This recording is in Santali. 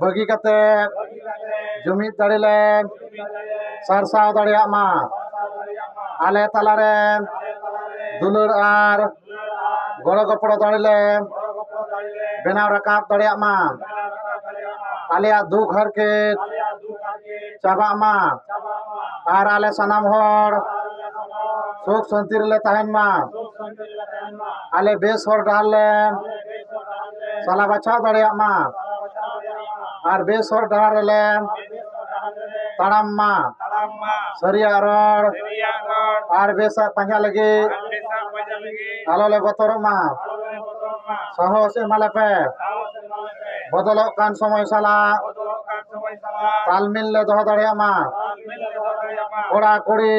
ᱵᱟᱹᱜᱤ ᱠᱟᱛᱮ ᱡᱩᱢᱤᱫ ᱫᱟᱲᱮ ᱞᱮ ᱥᱟᱨᱥᱟᱣ ᱫᱟᱲᱮᱭᱟᱜ ᱢᱟ ᱟᱞᱮ ᱛᱟᱞᱟ ᱨᱮ ᱫᱩᱞᱟᱹᱲ ᱟᱨ ᱜᱚᱲᱚ ᱜᱚᱯᱚᱲᱚ ᱫᱟᱲᱮ ᱞᱮ ᱵᱮᱱᱟᱣ ᱨᱟᱠᱟᱵ ᱫᱟᱲᱮᱭᱟᱜ ᱢᱟ ᱟᱞᱮᱭᱟᱜ ᱫᱩᱠ ᱦᱟᱨᱠᱮᱛ ᱪᱟᱵᱟᱜ ᱢᱟ ᱟᱨ ᱟᱞᱮ ᱥᱟᱱᱟᱢ ᱦᱚᱲ ᱥᱩᱠ ᱥᱟᱹᱱᱛᱤ ᱨᱮᱞᱮ ᱛᱟᱦᱮᱱ ᱢᱟ ᱟᱞᱮ ᱵᱮᱥ ᱦᱚᱨ ᱰᱟᱦᱟᱨ ᱞᱮ ᱥᱟᱞᱟ ᱵᱟᱪᱷᱟᱣ ᱫᱟᱲᱮᱭᱟᱜ ᱢᱟ ᱟᱨ ᱵᱮᱥ ᱦᱚᱨ ᱰᱟᱦᱟᱨ ᱨᱮᱞᱮ ᱛᱟᱲᱟᱢ ᱢᱟ ᱥᱟᱹᱨᱤᱭᱟᱜ ᱨᱚᱲ ᱟᱨ ᱵᱮᱥᱟᱜ ᱯᱟᱸᱡᱟ ᱞᱟᱹᱜᱤᱫ ᱟᱞᱚ ᱞᱮ ᱵᱚᱛᱚᱨᱚᱜ ᱢᱟ ᱥᱟᱦᱚᱥ ᱮᱢᱟᱞᱮ ᱯᱮ ᱵᱚᱫᱚᱞᱚᱜ ᱠᱟᱱ ᱥᱚᱢᱚᱭ ᱥᱟᱞᱟᱜ ᱛᱟᱞᱢᱤᱞ ᱞᱮ ᱫᱚᱦᱚ ᱫᱟᱲᱮᱭᱟᱜ ᱢᱟ ᱠᱚᱲᱟ ᱠᱩᱲᱤ